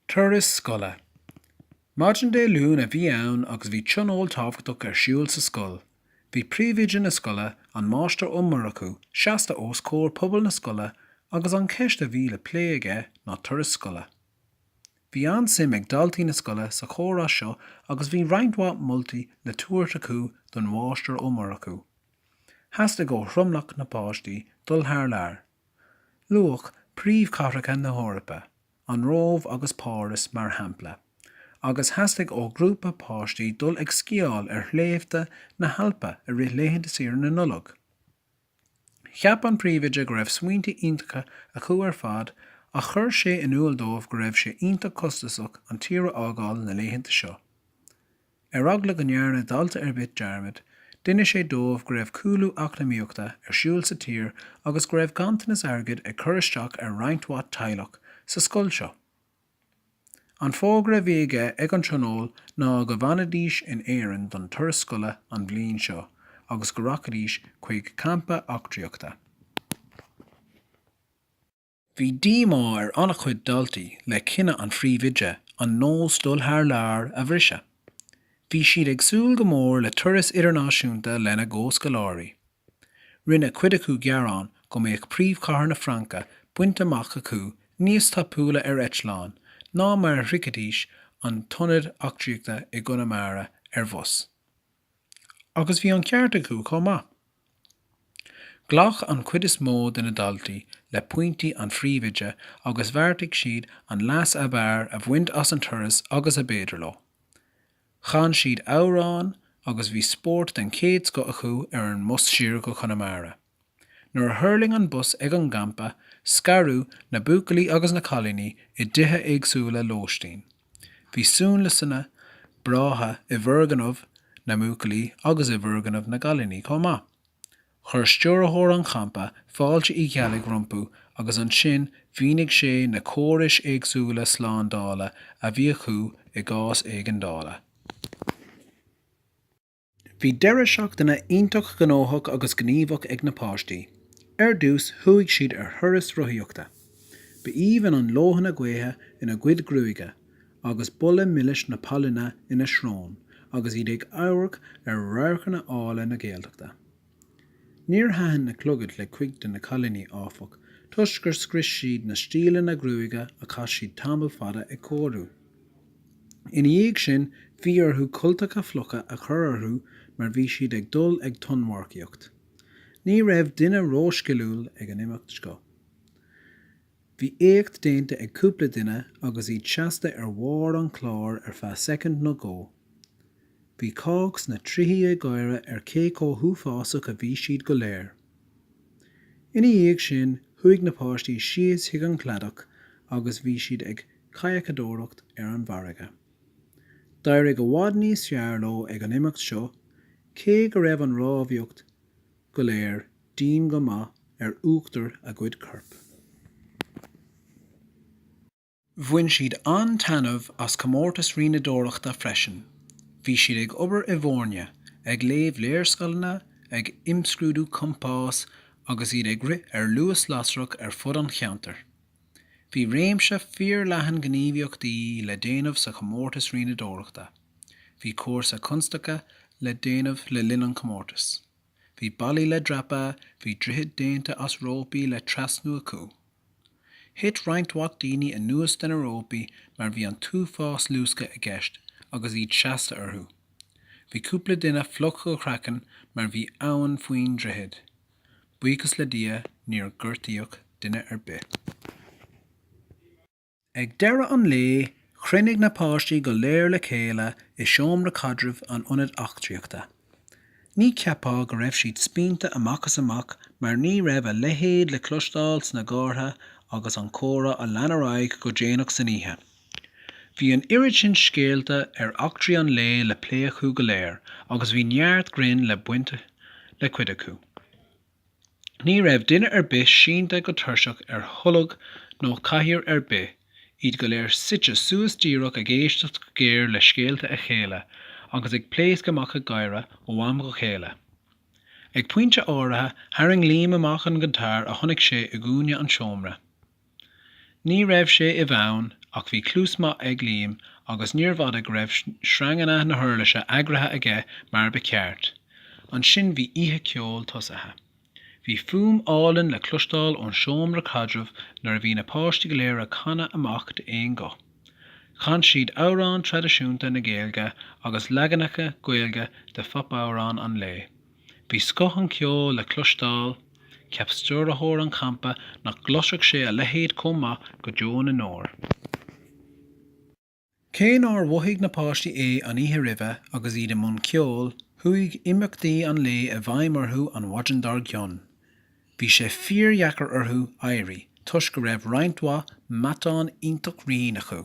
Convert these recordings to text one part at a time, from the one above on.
Turas Scoile. Maidin Dé Luain a bhí ann agus bhí tionól tábhachtach ar siúl sa scoil. Bhí príomhoide na scoile, an Máistir Ó Murchú, seasta os comhair pobal na scoile agus an cheist a bhí le plé aige ná turais scoile. Bhí an-suim ag daltaí na scoile sa chomhrá seo agus bhí roinnt mhaith moltaí le tabhairt acu don Mháistir Ó Murchú. Theastaigh ó thromlach na páistí dul thar lear. Luadh príomhchathracha na hEorpa, an Róimh agus Páras, mar shampla, agus theastaigh ó ghrúpa páistí dul ag sciáil ar shléibhte na hAlpa i rith laethanta saoire na Nollag. Cheap an príomhoide go raibh smaointe iontacha acu ar fad ach chuir sé in iúl dóibh go raibh sé iontach costasach an tír a fhágáil na laethanta seo. Ar eagla go ndearna dalta ar bith dearmad, d'inis sé dóibh go raibh cúlú eacnamaíochta ar siúl sa tír agus go raibh ganntanas airgid ag cur isteach ar roinnt mhaith teaghlach sa scoil seo. An fógra a bhí aige ag an tionól ná go bhfanfaidís in Éirinn don turas scoile an bhliain seo agus go rachaidís chuig campa eachtraíochta. Bhí díomá ar an-chuid daltaí le cinneadh an phríomhoide an nós dul thar lear a bhriseadh. Bhí siad ag súil go mór le turas idirnáisiúnta lena gcomhscoláirí. Rinne cuid acu gearán go mbeadh príomhchathair na Fraince bainte amach acu níos tapúla ar eitleán ná mar a shroichfidís an t-ionad eachtraíochta i gConamara ar bhus. Agus bhí an ceart acu chomh maith. Ghlach an chuid is mó de na daltaí le pointí an phríomhoide agus bheartaigh siad an leas ab fhearr a bhaint as an turas agus ab fhéidir leo. Chan siad amhráin agus bhí spórt den chéad scoth acu ar an mbus siar go Conamara. Nuair a thuirling an bus ag an gcampa, scaradh na buachaillí agus na cailíní i dtithe éagsúla lóistín. Bhí suanliosanna breátha i bhfoirgneamh na mbuachaillí agus i bhfoirgneamh na gcailíní chomh maith. Chuir stiúrthóir an champa fáilte Uí Cheallaigh rompu agus ansin mhínigh sé na córais éagsúla slándála a bhí acu i gcás éigeandála. Bhí deireadh seachtaine iontach gnóthach agus gníomhach ag na páistí. Ar dtús, chuaigh siad ar thuras rothaíochta. Ba aoibhinn an leoithne gaoithe ina gcuid gruaige, agus boladh milis na pailine ina srón agus iad ag amharc ar radharcanna áille na Gaeltachta. Níor thaitin na clogaid le cuid de na cailíní, áfach, toisc gur scrios siad na stíleanna gruaige a chaith siad tamall fada ag cóiriú. Ina dhiaidh sin, bhí orthu cultacha fliucha a chur orthu mar bhí siad ag dul ag tonnmharcaíocht. Ní raibh duine rósciliúil ag an imeacht seo. Bhí éacht déanta ag cúpla duine agus iad seasta ar bharr an chláir ar feadh soicind nó dhó. Bhí cách sna trithí ag gáire ar cé chomh huafásach a bhí siad go léir. Ina dhiaidh sin, chuaigh na páistí síos chuig an chladach agus bhí siad ag cadhcadóireacht ar an bhfarraige. D'éirigh i bhfad níos fearr leo ag an imeacht seo, cé go raibh an rámhaíocht go léir dian go maith ar uachtar a gcuid coirp. Bhain siad an-taitneamh as comórtas rianadóireachta freisin. Bhí siad ag obair i bhfoirne, ag léamh léarscaileanna, ag imscrúdú compás agus iad ag rith ar luas lasrach ar fud an cheantair. Bhí réimse fíorleathan gníomhaíochtaí le déanamh sa chomórtas rianadóireachta. Bhí cúrsa constaice le déanamh le linn an chomórtais. Bhí ballaí le dreapadh, bhí droichid déanta as rópaí le trasnú acu. Thit roinnt mhaith daoine anuas de na rópaí mar bhí an t-uafás luascadh i gceist agus iad seasta orthu. Bhí cúpla duine fliuch go craiceann mar bhí abhainn faoin droichead. buíochas le Dia níor gortaíodh duine ar bith. Ag deireadh an lae, chruinnigh na páistí go léir le chéile i seomra caidrimh an Ionaid Eachtraíochta. Ní cheapfá go raibh siad spíonta amach is amach mar ní raibh a leithéid le cloisteáil sna gcártha agus an comhrá a lean ar aghaidh go déanach san oíche. Bhí an oiread sin scéalta ar eachtraí an lae le plé acu go léir agus bhí neart grinn le baint le cuid acu. Ní raibh duine ar bith sínte go tuirseach ar tholg nó cathaoir ar bith, iad go léir suite suas díreach ag éisteacht go géar le scéalta a chéile agus ag pléascadh amach ag gáire ó am go chéile. Ag pointe áirithe tharraing Liam amach an giotáir a chonaic sé i gcúinne an tseomra. Ní raibh sé i bhfonn, ach bhí cluas maith ag Liam agus níorbh fhada go raibh sreanganna na huirlise eagraithe aige mar ba cheart. Ansin bhí oíche ceoil tosaithe. Bhí fuaim álainn le cloisteáil ón seomra caidrimh nuair a bhí na páistí go léir ag canadh amach d'aon guth. Chan siad amhráin traidisiúnta na Gaeilge agus leaganacha Gaeilge de phopamhráin an lae. Bhí scoth an cheoil le cloisteáil, cheap stiúrthóir an champa nach gcloisfeadh sé a leithéid chomh maith go deo na ndeor. Cé nár mhothaigh na páistí é an oíche roimhe agus iad i mbun ceoil, chuaigh imeachtaí an lae i bhfeidhm orthu an mhaidin dár gcionn. Bhí sé fíordheacair orthu éirí toisc go raibh roinnt mhaith matán iontach righin acu.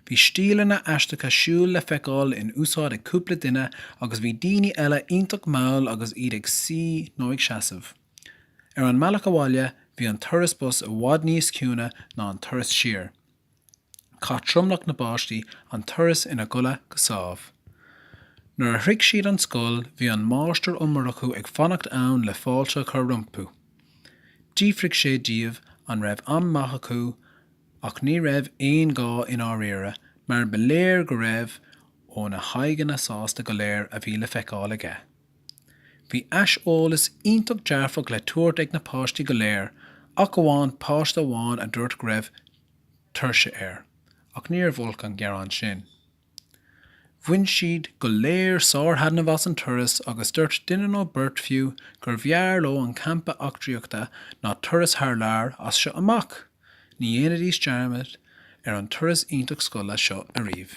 Bhí stíleanna aisteacha siúil le feiceáil in úsáid ag cúpla duine agus bhí daoine eile iontach mall agus iad ag suí nó ag seasamh. Ar an mbealach abhaile, bhí an turas bus i bhfad níos ciúine ná an turas siar. Chaith tromlach na bpáistí an turas ina gcodladh go sámh. Nuair a shroich siad an scoil bhí an Máistir Ó Murchú ag fanacht ann le fáilte a chur rompu. D'fhiafraigh sé díobh an raibh am maith acu ach ní raibh aon ghá i ndáiríre mar ba léir go raibh ó na haghaidheanna sásta go léir a bhí le feiceáil aige. Bhí aiseolas iontach dearfach le tabhairt ag na páistí go léir ach amháin páiste amháin a dúirt go raibh tuirse air, ach níorbh olc an gearán sin. Bhain siad go léir sárthaitneamh as an turas agus dúirt duine nó beirt fiú gurbh fhearr leo an campa eachtraíochta ná turas thar lear as seo amach! Ní dhéanfaidís dearmad ar an turas iontach scoile seo ariamh.